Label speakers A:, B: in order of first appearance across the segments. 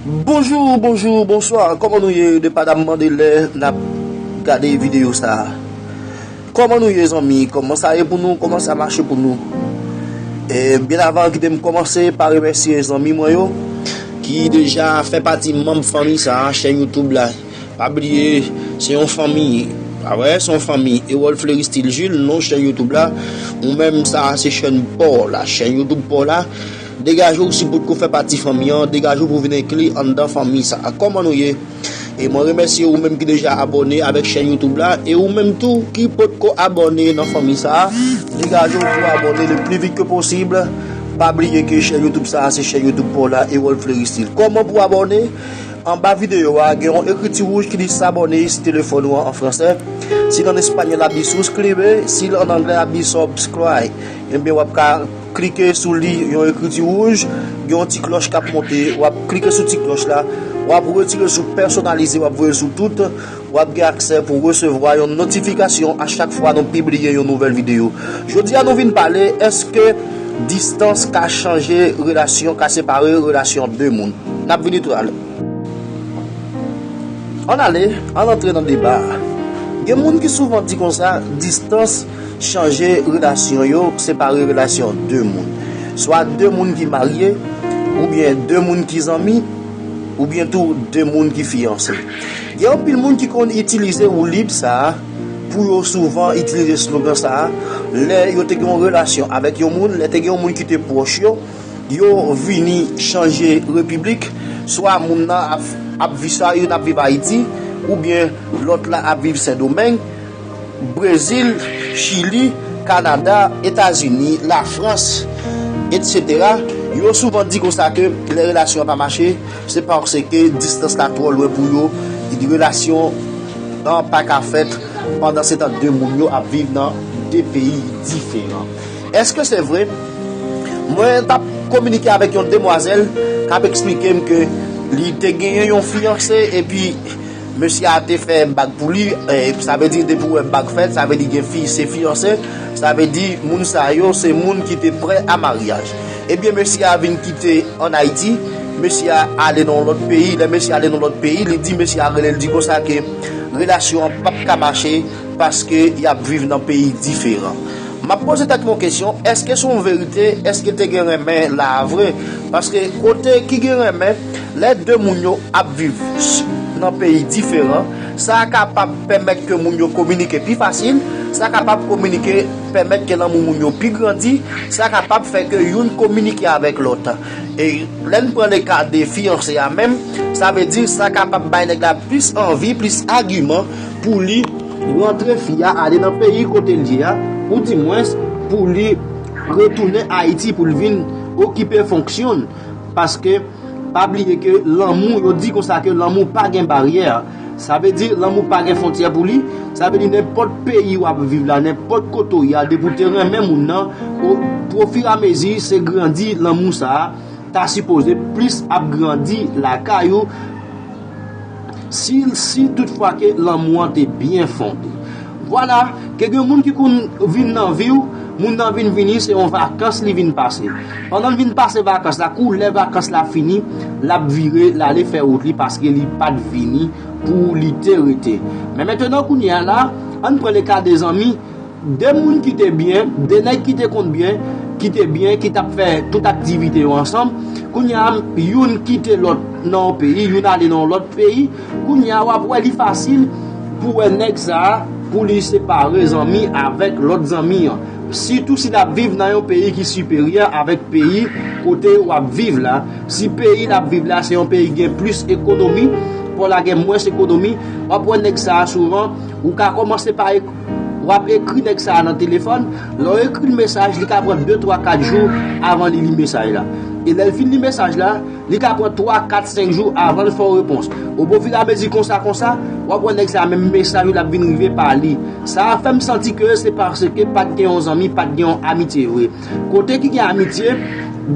A: Bonjou bonjou bonswa kòman nou ye de pa dam mande lè nap gade videyo sa kòman nou ye zanmi kòman sa ye pou nou kòman sa mache pou nou e byen avan ki tem kòmanse pa remèsye zanmi mwen yo ki deja fè pati manm fanmi sa chè youtube la pa bliye se yon fanmi a wè se yon fanmi e wòl fleri stil jil non chè youtube la ou menm sa se chèn paw la chè youtube paw la. Degaje w si potko fè pati fanmi an, degaje w pou vin enkli anndan fanmi sa a. Kòman nou ye? E mwen remèsye ou menm ki deja abòne avèk chèn YouTube la, e ou menm tou ki potko abòne nan fanmi sa a, degaje w pou abòne le pli vit ke posib, pa bliye ke chèn YouTube sa a se chèn YouTube pa w la, Erol Fleristil. Kòman pou abòne? Anba videyo a gen yon ekriti wouj ki di s'abonner si telefòn ou an an fransè, si l an espanyòl ap di suscribe, si l an anglè ap di subscribe. Ebyen wap ka. Klike sou li yon ekriti wouj, gen yon ti klòch kap monte, wap klike sou ti klòch la, wap retire sou pèsonalize wap voye sou tout, wap gen aksè pou resevwa yon notifikasyon a chak fwa nou pibliye yon nouvèl videyo. Jodi a nou vin pale eske distans ka chanje relasyon, ka separe relasyon 2 moun. Nap vini tou ale. Ann ale, ann antre nan deba a. Gen moun ki souvan di konsa distans. Chanje relasyon yo, separe relasyon 2 moun. Swa 2 moun ki marye, oubyen 2 moun ki zanmi, oubyen tou 2 moun ki fiyanse. Gen anpil moun ki konn itilize woulib sa a pou yo souvan itilize slogan sa a lè yo te gen yon relasyon avèk yon moun, lè te gen yon moun ki te pwòch yo, yo vini chanje repiblik, swa moun nan ap viv sa, youn ap viv Ayiti, oubyen lòt la ap viv Sendomeng. Brezil, Chili, Kanada, Etazini, Lafrans, etc. Yo souvan di konsa ke lè relasyon an pa mache, se paske distans la twò lwen pou yo, relasyon an pa ka fèt, pandan se tan 2 moun yo ap viv nan 2 peyi diferan. Eske se vre? Mwen t ap kominike avèk yon demwazèl k ap eksplike m ke li te genyen yon fiyanse epi, Mesye a te fè bag pou li, sa vle di depi ou wè bag fèt, sa vle di gen fi, se fiyanse, sa vle di moun sa yo se moun ki te prè a maryaj. Ebyen mesye a vin kite an Ayiti, mesye a ale nan yon lòt peyi, lè mesye a ale nan yon lòt peyi, li di mesye a rele l di konsa ke relasyon an pap ka mache paske y ap viv nan peyi diferan. M ap poze tèt mwen yon kesyon, èske se yon verite, èske te gen renmen la a vre? Paske kote ki gen renmen, Lè de moun yo ap viv nan peyi diferan, sa kapab pèmèt ke moun yo kominike pi fasil, sa kapab kominike pèmèt ke lanmou moun yo pi grandi, sa kapab fè ke youn kominike avèk lòt. E lè n pran le ka de fiyanse a menm, sa vle di sa kapab bay nèg la plis anvi, plis agiman pou li rantre fi a ale nan peyi kote l ye a, ou di mwens pou li retounen Ayiti pou l vin okipe fonksyon l. Paske, pa bliye ke lanmou, yo di konsa ke lanmou pa gen baryè. Sa vle di, lanmou pa gen fontyè pou li. Sa vle di nenpòt peyi w ap viv la, nenpòt kote w ye a, depi w te renmen moun nan, pwofiramezi se grandi lanmou sa a ta sipoze plis ap grandi lakay ou. Si si tout fwa ke lanmou an te byen fonde. Vwala, ke gen moun ki konn vin nan vi w, moun nan vin vini se yon vakans li vin pase. Pandan l vin pase vakans la, kou lè vakans la fini, l ap vire, l ale fè wout li paske li pa t vini pou li te rete. Men mentenan kounye a la, ann pran le ka de zanmi, De moun ki te byen, de nèg ki te konn byen, ki te byen, ki t ap fè tout aktivite yo ansanm, kounye a youn kite lòt nan yon peyi, youn ale nan yon lòt peyi, kounye a w ap wè li fasil pou w wè nèg sa a pou li separe zanmi avèk lòt zanmi an, sitou si l ap viv nan yon peyi ki siperyè avèk peyi kote w ap viv la, si peyi l ap viv la se yon peyi ki gen plis ekonomi, kò la gen mwens ekonomi, w ap wè nèg sa a souvan ou ka kòmanse pa. Wap ekri nèg sa a nan telefòn, lè w ekri l mesaj, li ka pran de, twa, kat jou avan li li mesaj la. E lè l fin li mesaj la, li ka pran twa, kat, senk jou avan l fè w repons. Obofiramezi konsa konsa, wap wè nèg sa a menm mesaj ou l ap vin rive pa li. Sa a fè m santi ke se paske pat gen yon zanmi, pat gen yon amitye vre. Kote ki gen amitye,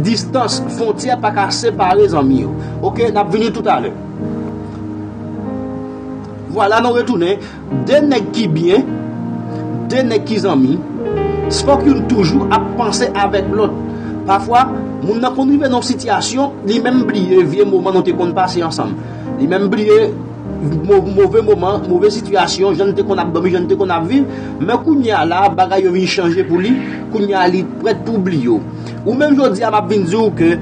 A: distans, fontyè pa ka separe zanmi yo. Ok, n ap vini toutalè. Vwala nou retounen De nèg ki byen, de nèg ki zanmi, se fòk youn toujou ap panse avèk lòt. Pafwa, moun nan konn rive nan yon sitiyasyon, li menm bliye vye moman nou te konn pase ansanm. Li menm bliye move moman, move sitiyasyon, jan n te konn ap dòmi, jan n te konn ap viv. Men kounye a la a, bagay yo vin chanje pou li, kounye a li prèt pou bliye yo. Ou menm jodi a, m ap vin di ou ke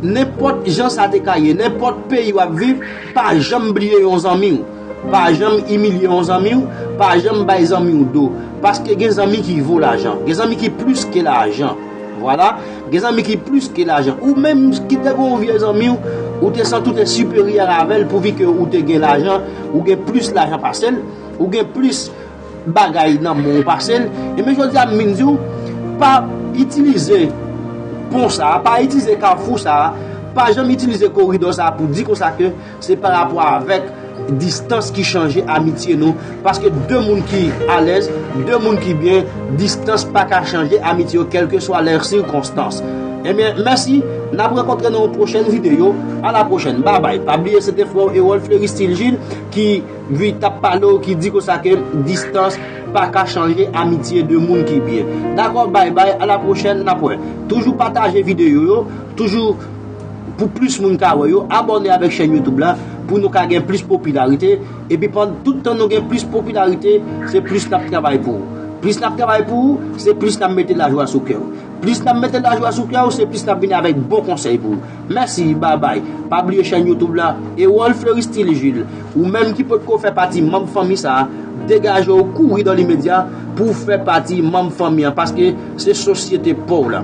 A: nenpòt jan sa te ka ye, nenpòt peyi w ap viv, pa janm bliye yon zanmi w. Pa janm imilye yon zanmi w, pa janm bay zanmi w do. Paske gen zanmi ki vo lajan. Gen zanmi ki plis ke lajan. Vwala, gen zanmi ki plis ke lajan. Ou menm ki te gen yon vye zanmi w, ou te santi w te siperyè avè l pouvi ke ou te gen lajan, ou gen plis lajan pase l, ou gen plis bagay nan men w pase l. Enben jodi a m vin di w, pa itilize pon sa a, pa itilize kafou sa a, pa janm itilize koridò sa a pou di konsa ke Se pa rapò avèk distans ki chanje amitye nou. Paske 2 moun ki alèz, 2 moun ki byen, distans pa ka chanje amitye yo kèlkeswa lè sikonstans. Ebyen, mèsi, n ap rankontre nan yon pwochèn videyo. A la pwochèn. Babay. Pa bliye se te frè w Erol Fleuristil Gilles ki vin t ap pale w, ki di konsa ke distans pa ka chanje amitye 2 moun ki byen. Dakò, bay bay, a la pwochèn, n ap wè. Toujou pataje videyo yo, toujou. pou plis moun ka wè yo, abòne avèk chèn youtube la pou nou ka gen plis popilarite epi pandan tout tan nou gen plis popilarite se plis nap travay pou ou plis nap travay pou ou se plis nap mete lajwa sou kèw plis nap mete lajwa sou kèw se plis nap vini avèk bon konsèy pou ou mèsi babay pa bliye chèn youtube la Erol Fleuristil Jules ou menm ki potko fè pati manb fanmi sa degajew kouri dan limedya pouw fè pati manb fanmi an paske Se sosyete pa w la.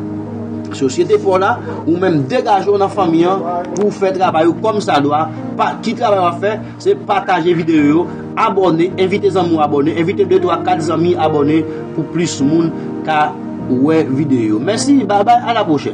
A: Sosyete pa w la, ou menm degaje w nan fanmi an pou w fè travay ou kòm sa dwa. Ki travay w ap fè? Se pataje videyo yo, abòne, envite zanmi w abòne, envite de, twa, kat zanmi abòne pou plis moun ka wè videyo yo. Mèsi, babay, a la pwochèn.